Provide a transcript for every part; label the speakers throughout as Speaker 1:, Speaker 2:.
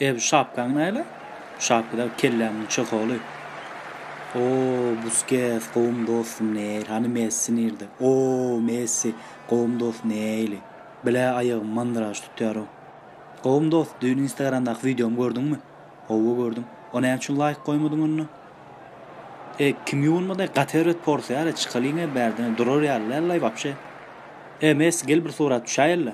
Speaker 1: Eý bu şapkaň näle? Şapkada kellämiň çyholy. Oo, Buskes, gowum dostum neýl? Hany Messi nirde? Oo, Messi, gowum dost neýli? Bilä aýagym mandyraş tutýarow. Gowum dost, düýn instagramdaky wideomy gördüňmi? Howwa gördüm. O näme üçin laýk goýmadyň onda? E, kim ýuwunmaday gaty erbet porsiýa-le, çykalyň-e bärden-e, durar ýaly däl-laý wapşe. E, Messi gel bir surat düşäýeli-le.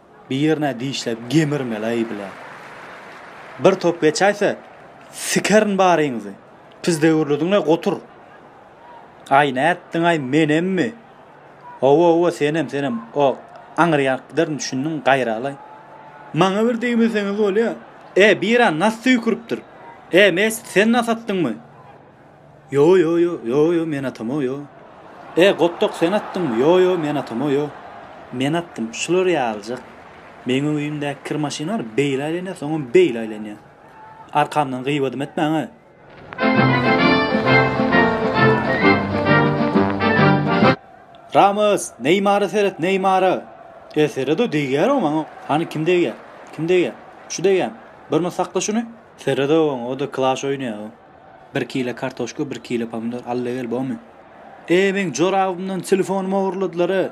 Speaker 1: Bir ýerine dişläp gemirmel-aý bile. Bir top geçäýse, sikerin baryňyzy. Pis döwürlidiň-le, gotur. Aý, nätdiň-aý, menemmi? Hawa-hawa, senem, senem. O, aňryýa alyp giderin, düşündiň, gaýra-laý. Maňa bir degmeseňiz bolýa. E, bir-ä nas söýküripdir. E, mes, sen nas atdyňmy? Ýo-ýo, ýo-ýo, men atam-ow, ýo. E, Gotdok, sen atdyňmy? Ýo-ýo, men atam-ow, ýo. Men atdym. Şular ýalyjak. Meň öýümdäki kir maşynlar beýle aýlanýar, soňam beýle aýlanýar. Arkamdan gybadym etmäň-ä! Ramos, Neýmara seret, Neýmara! E, sered-ow, degýär-ow maňa. Hany, kim degýär? Kim degýär? Şu degýärmi? Birmyl sakla şuny. Sered-ow oňa, o-da klaş oýnaýar-ow. Bir kile kartoşka bir kile pomidor alla gel bomy. Eee meň jorabymdan telefonymy ogurladylar e.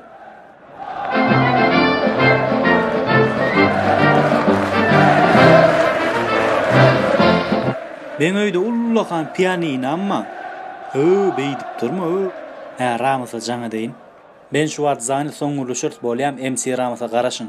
Speaker 1: Meň öýde ullakan pianinam bar. Öö beýdip durma öö. Hä Ramysa jaň edeýin. Ben şu wagt zany soň gürleşeris bolýam MC Ramysa garaşyň.